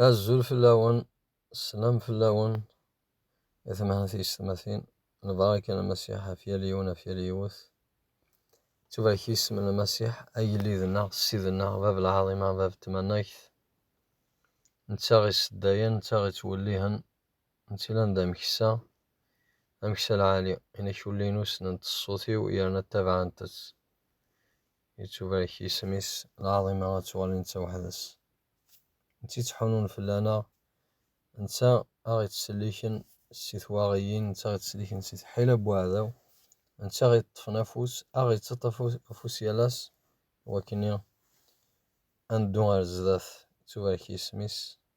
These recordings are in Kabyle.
Azul fell-awen, sslam fell-awen, i temɛen tiyessetmatin, lbaraka n Lmasiḥ ɣef yal yiwen, ɣef yal yiwet. Tubarek yisem n Lmasiḥ, agellid-nneɣ, ssid-nneɣ, bab lɛaḍima, bab tmanegt. Netta ɣ-iseddayen, netta ɣ-ittwellihen, netta ilan d ameksa, ameksa lɛali. Inak ulli-inu ssnent ṣṣut-iw yerna ttabaɛent-tt. Ittubarek yisem-is lɛaḍima ad tuɣal netta weḥd-s. N tt-ittḥunun fell-aneɣ, netta aɣ ittselliken si twaɣiyin, netta aɣ ittselliken si tḥila n weɛdaw, netta aɣ iṭṭfen afus, aɣ ittaṭṭaf afus yal ass i wakken ad neddu ar zdat. Ittubarek yisem-is.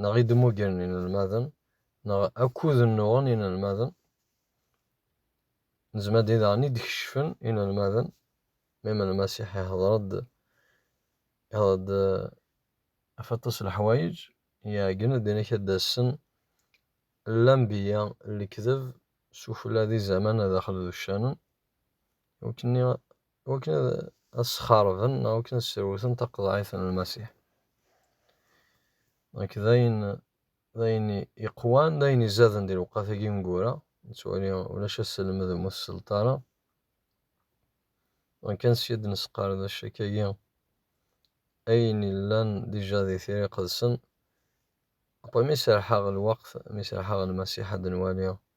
neɣ i d-mmugren inelmaden, neɣ akud nnuɣen inelmaden, n zmadi daɣen i d-keccfen inelmaden, mem Lmasiḥ ihder-d ihder-d ɣef aṭas n leḥwayeǧ, iɛeggen-d inek ad d-assen lanbiya n lekdeb s ufella d izaman daxel d uccanen, iwakken iwakken ad as-xerben neɣ iwakken ad srewten taqeḍɛit n Lmasiḥ. Nekk d ayen d ayen iqwan d ayen izaden di lewqat-agi imgura nettwali ulac aselmed ur muteṣleḍ ara kan sya d nesqerdec akkagi ayen illan dija di tira iqedsen après mi serḥeɣ lweqt mi serḥeɣ Lmasiḥ ad nwali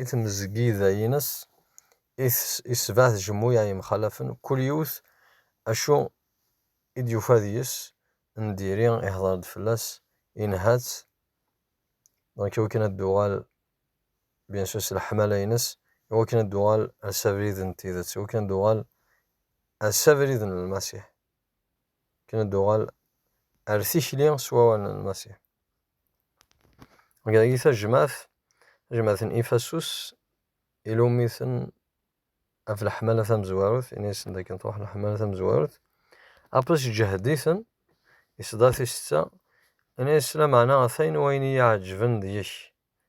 I tmezgida-ines i yesbeɛ tjemmuyaɛ yemxalafen, kul yiwet acu i d-yufa deg-s n diri ihder-d fell-as, inha-tt, donc i wakken ad d-tuɣal bien sûr s leḥmala-ines, i wakken ad d-tuɣal ar s abrid n tidet, i wakken ad d-tuɣal ar s abrid n Lmasiḥ, i wakken ad d-tuɣal ar tikli s wawal n Lmasiḥ. Dagi tajmaɛt, tajmaɛt n Ifasus, ilummi-ten ɣef leḥmala tamezwarut, ini-asen dakken truḥ leḥmala tamezwarut. Apis iǧehhed-iten, isḍa tisetta, ini-as lameɛna atan wayen i yi-iɛeǧǧben deg-k,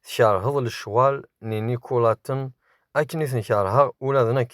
tkeṛheḍ lecɣal n yinikulaten akken i ten-keṛheɣ ula d nekk.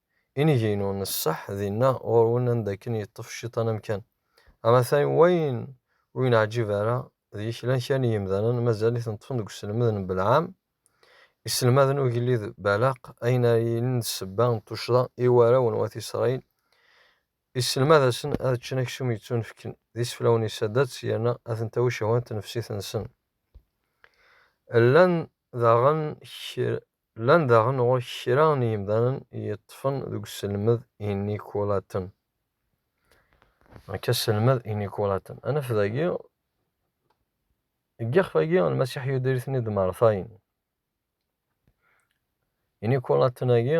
Inigi-inu n ṣṣeḥ dinna ɣur-wen anda akken yeṭṭef cciṭan amkan. Amatay wayen ur yi-neɛǧib ara deg-k llan kra n yimdanen mazal-iten ṭṭfen deg uselmed n Belɛam, iselmaden ugellid Balaq, ayen ara yilin d ssebba n tuccḍa i warraw n wat Isṛayil, yesselmad-asen ad ččen aksum yettunefken d iseflawen isadats yerna ad ten-tawi ccehwa n tnefsit-nsen. Llan daɣen kra. Llan daɣen ɣur-k kra n yimdanen yeṭṭfen deg uselmed inikulaten. Nek aselmed inikulaten. Anef dagi, deg yixef-agi, Lmasiḥ yudir-iten-id Martayen. Inikulaten-agi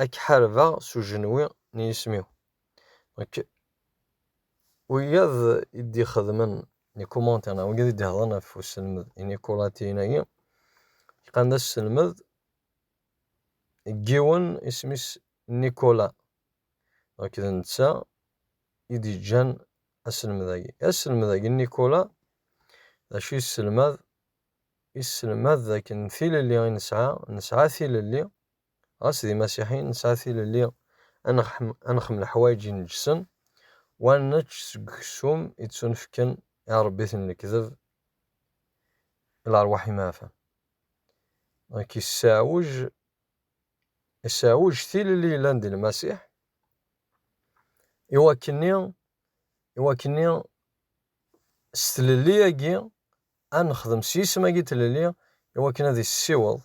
ad k-ḥarbeɣ s ujenwi n yisem-iw. Donc, wiyaḍ i d-ixedmen les commentaires neɣ wiyaḍ i d-iheḍren ɣef uselmed inikuratiyen-agi, lqan d aselmed n yiwen isem-is Nicolas. Donc, d netta i d-yeǧǧan aselmed-agi. Aselmed-agi n Nicolas, d acu yesselmad? Yesselmad d akken tilelli i nesɛa, nesɛa tilelli, Ɣas d imasiḥiyen, nesɛa tilelli ad nexm leḥwayeǧ ineǧsen u ad nečč seg uksum i ttunefken i arebbiten n lekdeb, i lerwaḥ imeɛfan. Dɣek isseɛwej, isseɛwej tilelli yellan di Lmasiḥ i wakkenni, i wakkenni s tlelli-agi Ad nexdem s yisem-agi n tlelli i wakken ad yessiweḍ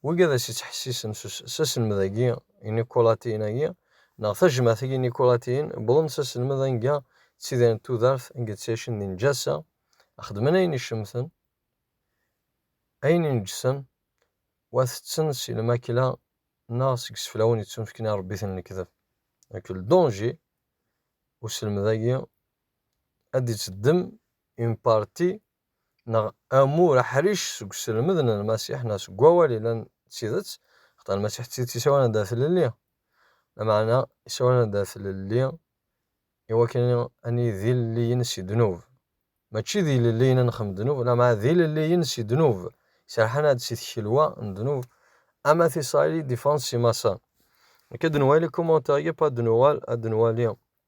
wigi ad as-yettḥessisen s aselmed-agi i Nikulatiyen-agi, neɣ tajmaɛt-agi n Nikulatiyen, wwḍen s aselmed anga ttidirent tudert, anga ttɛicen di neǧasa, ad xedmen ayen icemten, ayen ineǧsen, u ad tetten si lmakla neɣ seg iseflawen yettunefken i ṛebbiten n lekdeb. Deg ldunji, uselmed-agi ad d-itteddem une partie, neɣ amur aḥric seg uselmed n Lmasiḥ neɣ seg Wawal yellan d tidet, axaṭer Lmasiḥ d tidet isawal-aneɣ-d ɣer tlelli, lameɛna isawal-aneɣ-d ɣer tlelli i wakken ad nili d ilelliyen si ddnub, mačči d ilelliyen ad nexdem ddnub, lameɛna d ilelliyen si ddnub, iserrḥen-aɣ-d si tkelwa n ddnub, am at Isṛayil i d-iffɣen si Maṣer. Akka d-nwali commentaire-agi, pas d-nuɣal ad d-nwali.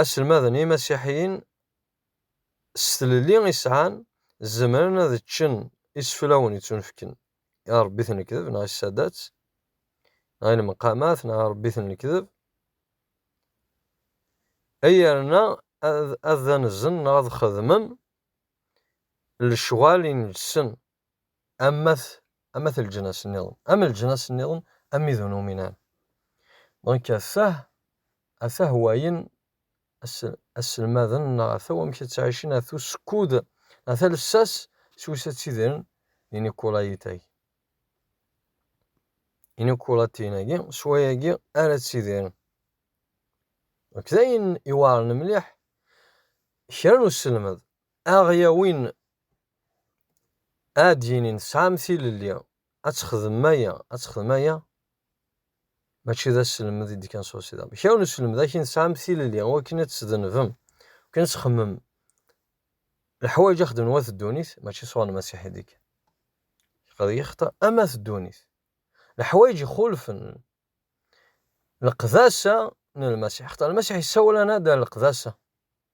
Aselmaden imasiḥiyen s tlelli i sɛan zemren ad ččen iseflawen yettunefken i arebbi-t n lekdeb neɣ i ssadat neɣ i lmeqamat neɣ arebbi-t n lekdeb ay yerna ad d-anzen neɣ ad xedmen lecɣal i nelsen am at am at leǧnas niḍen am leǧnas niḍen amidun uminan donc atah atah wayen asselmaden neɣ ata wamek ad ttɛicin ata usekkud ata lsas s wis ad tidren inikulayitak inikulatinagi s wayagi ara ttidiren donc d ayen iweɛren mliḥ kra n usselmed Aɣ-yawin ad yinin tesɛam tilelli ad texdem aya, ad texdem aya, mačči d aselmed i d-kan s usiḍam. Kra n uselmed akin tesɛam tilelli wakin ad tesdenbem, wakin ad txemmem leḥwayeǧ ad xedmen wat ddunit, mačči s Uɣ-Lmasiḥ i d-kan. Qad yexta am at ddunit. Leḥwayeǧ ixulfen leqdasa n Lmasiḥ. Xaṭer Lmasiḥ yessawel-ana-d ar leqdasa.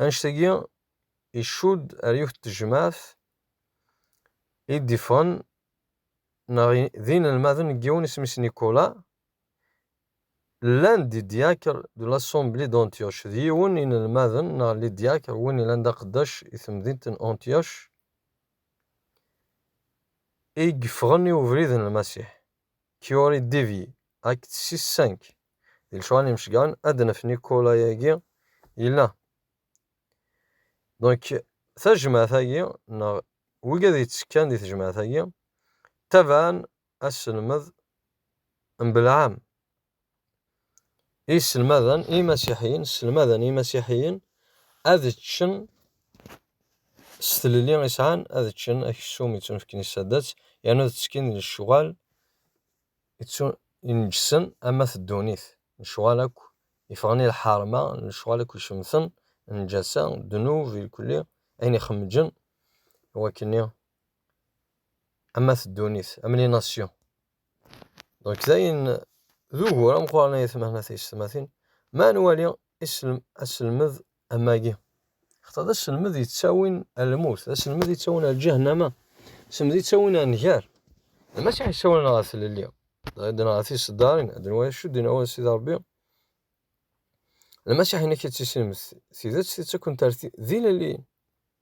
Annect-agi icudd ar yiwet n tejmaɛt i d-iffɣen neɣ d inelmaden n yiwen isem-is Nicolas, llan-d di diacre de l'assemblée d'Antioche, d yiwen n inelmaden neɣ li diacre win yellan d aqeddac i temdint n Antioche, i yeffɣen i ubrid n Lmasiḥ. Curie Devi, Act six cinq, Di lecɣal n yimecgaren ad d-nef Nicolas-agi yella. Donc tajmaɛt-agi neɣ wigad yettekkan di tejmaɛt-agi ttabaɛen aselmed n Belɛam i sselmaden i yimasiḥiyen sselmaden i yimasiḥiyen ad ččen s tlelli i sɛan ad ččen aksum ittunefken i saddat yernu ad ttekkin di lecɣal ineǧǧsen am at ddunit lecɣal akk yeffɣen i lḥerma lecɣal akk icemten lǧasa ddnub ilkli ayen ixemǧen i wakk-nni am at ddunit am les nations. Donc dayen d ugur ameqqran ay atmaten at yessetmatin ma ad nwali aselmed amagi xaṭer d aselmed yettawin ar lmut d aselmed yettawin ar lǧahnama aselmed yettawin ar nnger maca yessawalen ɣer tlelli dɣa ddren ɣer tiseddarin ad nwali acu d-yenna wawal Sidi Ṛebbi lmacaḥ-inek ad tissinem tidet tittakkent ar tilelli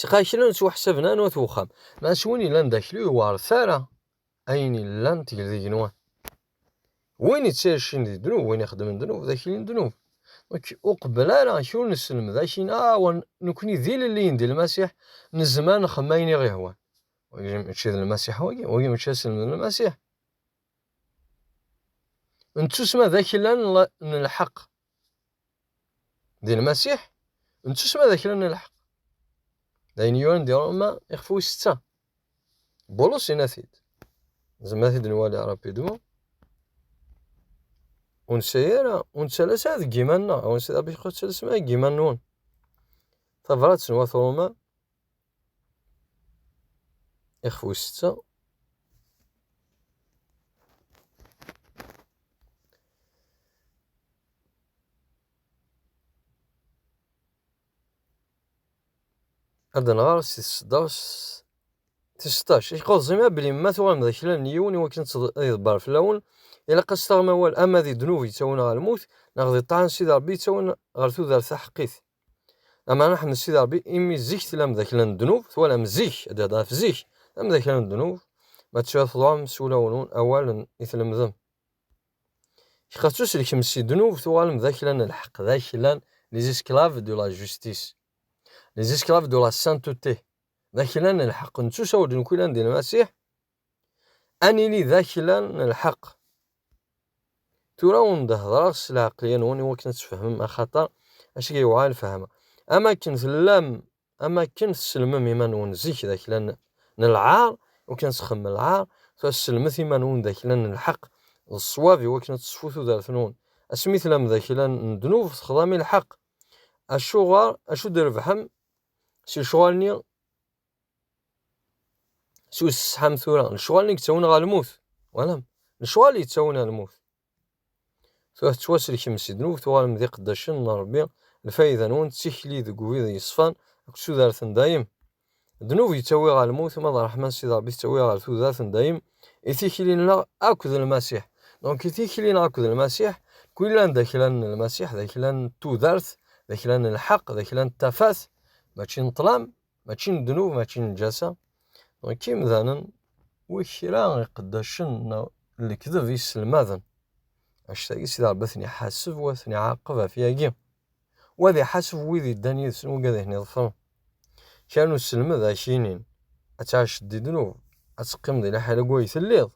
Sqa kra n ttwaḥsaben anwa t wexxam. Ma s win yellan d akli yewɛer tara ayen yellan tgel d igenwan. Win ittacin di ddnub, win ixeddmen ddnub d akli n ddnub. Nek ur qebbel ara ak ur nesselmed akin ah wa nekni d ilelliyen di Lmasiḥ nezmer nxem ayen i ɣ-ihwan. Wagi mačči d Lmasiḥ wagi, wagi mačči aselmed n Lmasiḥ. Nettusma d aklan n lḥeq. di lmasiḥ nettusma d kra n lḥeq d ayen yuran di roma ixef wis setta bulus inna-t-id zemma t-id nwali rapidmu ur nesɛi ara ur nettalas ara deg yiman-nneɣ ur nesɛi ara bixxu ttalasem ara deg yiman-nwen tabrat n wat roma Ixef wis setta. Ad nɣer si tseddast tis seṭṭac. I k-qeḍẓim abli ma tuɣalem d aklan n yiwen i wakken ad iḍebber fell-awen, ilaq ad s-taɣem awal ama di ddnub yettawin ɣer lmut, neɣ di ṭṭaɛa n Sidi Rebbi yettawin ɣer tudert taḥeqqit. Ameɛna Ḥmed Sidi Ṛebbi imi zik tella amdakla n ddnub, twalam zik, ad d-ihedder ɣef zik, amdakla n ddnub, ma teččiḍ teḍɛum s wulawen-nwen awalen i tlemdem. Iqef s uselkem si ddnub tuɣalem d aklan n lḥeqq, d aklan les esclaves de la justice, les esclaves de la sainteté, d aklan n lḥeqq, nettusa ur d-nukilan di Lmasiḥ, Ad nili d akla n lḥeqq. Tura ur d-heddreɣ s lɛeqleyya-nwen i wakken ad tfehmem axaṭer asga yewɛa lfehma. Am akken tellam, am akken tesselmem iman-nwen zik d akla n lɛar, i wakken ad txemmem lɛar, tura selmet iman-nwen d akla n lḥeqq, d ṣṣwab i wakken ad teṣfu tudert-nwen. Asmi tellam d akla n ddnub, texḍam i lḥeqq. Acuɣer, acu d-trebḥem s lecɣal-nni Su tesḥam tura, lecɣal i yettawin ɣer lmut. Walam, lecɣal yettawin ɣer lmut. Tura tettwaselkem si ddnub, tuɣalem d iqeddacen n Rebbi, lfayda-nwen d tikli deg ubrid yeṣfan akked tudert n dayem. Ddnub yettawi ɣer lmut, ma d ṛṛeḥma n Sidi Rebbi tettawi ɣer tudert n dayem, i tikli-nneɣ akked Lmasiḥ. Donc i tikli-nneɣ akked Lmasiḥ, kwilan d akla n Lmasiḥ, d akla n tudert, d akla n lḥeqq, d akla n tafat, mačči n ṭṭlam, mačči n ddnub, mačči n lǧasa. Donc imdanen wi kra iqeddacen neɣ lekdeb iselmaden. Actagi Sidi Rebbi ad ten-iḥaseb wa ten-iɛaqeb ɣef yagi. Wa ad iḥaseb wid iddan yid-sen wagi ad ten-iḍefren. Kra n uselmed ak inin ad tɛac di ddnub, ad teqqim di liḥala deg way telliḍ.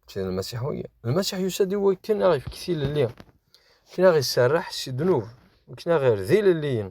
Mačči d Lmasiḥ wagi. Lmasiḥ yusa-d i wakken ad ɣ-ifk tilelli, akken ad ɣ-iserreḥ si ddnub, akken ad ɣ-irdi ilelliyen.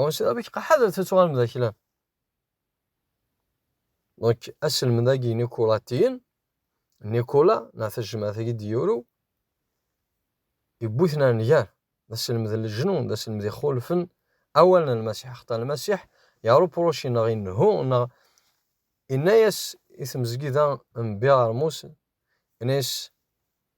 Ɣur sida amek ḥadret ad tuɣalem d aklan. Donc aselmed-agi Nikulatiyen, Nikula neɣ tajmaɛt-agi d-yuru, yewwi-ten ar nnger. D aselmed n leǧnun, d aselmed ixulfen awalen n Lmasiḥ. Axaṭer Lmasiḥ yarupuruci neɣ innehu neɣ inna-yas i tmezgida n Biɛermus, inna-yas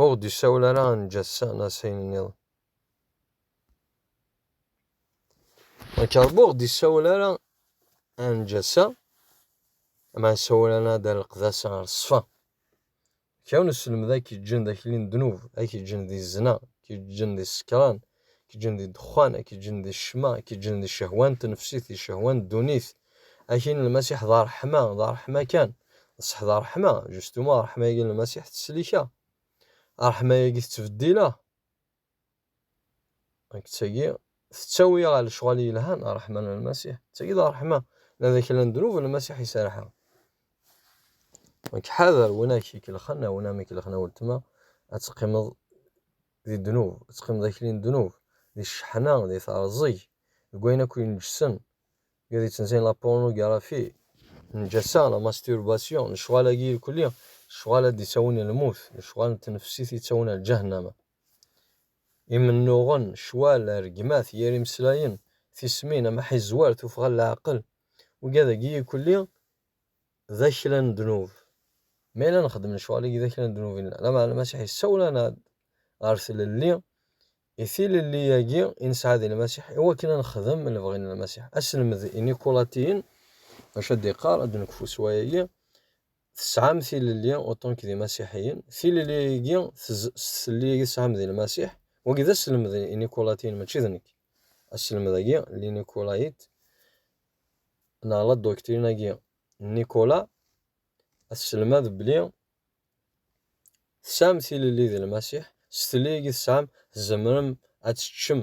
Ur ɣ-d-isawel ara ad neǧǧ ass-a neɣ ass-ayen nniḍen. Akka Rebbi ur ɣ-d-isawel ara ad neǧǧ ass-a, ama isawel-aneɣ ad d-nleqd ass-a ɣer ṣṣfa. Kra n uselmed ay k-yeǧǧen d akli n ddnub, ay k-yeǧǧen di zzna, ay k-yeǧǧen di ssekran, Ak-ǧǧen di ddexxan, ak-ǧǧen di ccma, ak-ǧǧen di ccehwa n tnefsit, di ccehwa n ddunit. Aki n Lmasiḥ d ṛṛeḥma, d ṛṛeḥma kan. D ṣṣeḥ d ṛṛeḥma, justement ṛṛeḥma-agi n Lmasiḥ tettsellika. Ṛṛeḥma-agi tettbeddila. Nekk d tagi tettawi ɣer lecɣal yelhan, ṛṛeḥma n Lmasiḥ. D tagi d ṛṛeḥma. Ma d kra n ddnub, Lmasiḥ iserreḥ. Nekk ḥader win ak-ikellxen, a win am-ikellxen a weltma, ad teqqimeḍ di ddnub, teqqimeḍ akli n ddnub, di cceḥna, di teɛẓeg, deg wayen akk ineǧǧsen, iḍ yettenzin la pornografi, nnǧasa, la masturbation, lecɣal-agi irkeli, lecɣal ad d-ittawin i lmut, lecɣal n tnefsit ittawin ar ǧahennama. Imennuɣen, ccwal, rregmat, yir imeslayen, tismin, amaḥizzwer, tuffɣa n leɛqel, wigi ad agi ikelli, d akla n ddnub. Ma yella nxeddem lecɣal-agi d akla n ddnub i nella, lameɛna Lmasiḥ yessawel-aneɣ-d ɣer tlelli, i tilelli-agi i nesɛa di Lmasiḥ, i wakken ad nexdem lebɣi n Lmasiḥ. Aselmed inikulatiyen d acu ad d-iqqar, ad d-nekfu s wayagi, Tesɛam tilelli uṭṭunk d imasiḥiyen, tilelli-agi s tlelli-agi tesɛam di Lmasiḥ, wagi d aselmed inikulatiyen mačči d nekk. Aselmed-agi, linikulait, neɣ la dduktirin-agi n Nikola, ad tesselmad belli tesɛam tilelli di Lmasiḥ, s tlelli-agi tesɛam tzemrem ad teččem,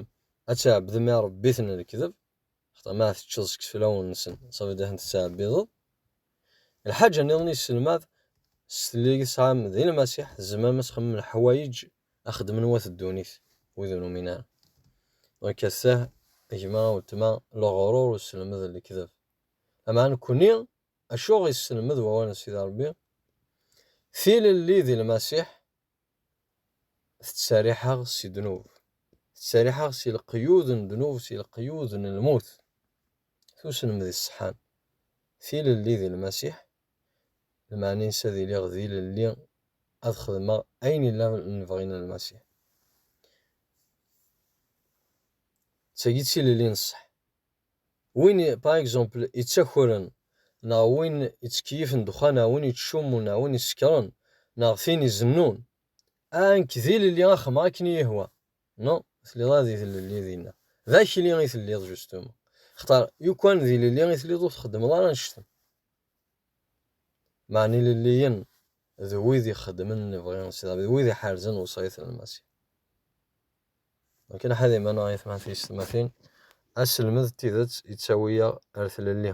ad tɛebdem irebbiten n lekdeb, xaṭer ma teččeḍ seg iseflawen-nsen, ça veut dire ad ten-tettɛebbideḍ. Lḥaǧa-nniḍen i yesselmad, s tlelli-agi tesɛam di Lmasiḥ, tzemrem ad txemmem leḥwayeǧ Axedmen wat ddunit wid ur numin ara. Donc assah, gma, weltma, leɣrur usselmed n lekdeb. Lameɛna nekkni, acu ɣ yesselmed wawal n Sidi Rebbi? Tilelli di Lmasiḥ tettseriḥ-aɣ si ddnub, tettseriḥ-aɣ si leqyud n ddnub, si leqyud n lmut. Tusselmed iṣeḥḥan, tilelli di Lmasiḥ lmeɛna-ines ad iliɣ d ilelli ad xedmeɣ ayen ila lebɣi n Lmasiḥ. D tagi d tilelli n ṣṣeḥ. Win, par exemple, ittakren neɣ win ittkeyyif n ddexxan neɣ win ittcummun neɣ win isekren neɣ tin izennun, ah, nekk d ilelli ad xedmeɣ akken i yi-ihwa. Non, telliḍ ara d ilelli dinna. D akli i telliḍ, justement. Xtar, yukan d ilelli i telliḍ ur txeddmeḍ ara annect-en. Meɛna ilelliyen d wid ixeddmen lebɣi n Sidi Rebbi, d wid iḥerzen lewṣayat n Lmasiḥ. Akken aḥad iman ay atmaten-iysetmatin, aselmed n tidet yettawi-aɣ ɣer tlelli.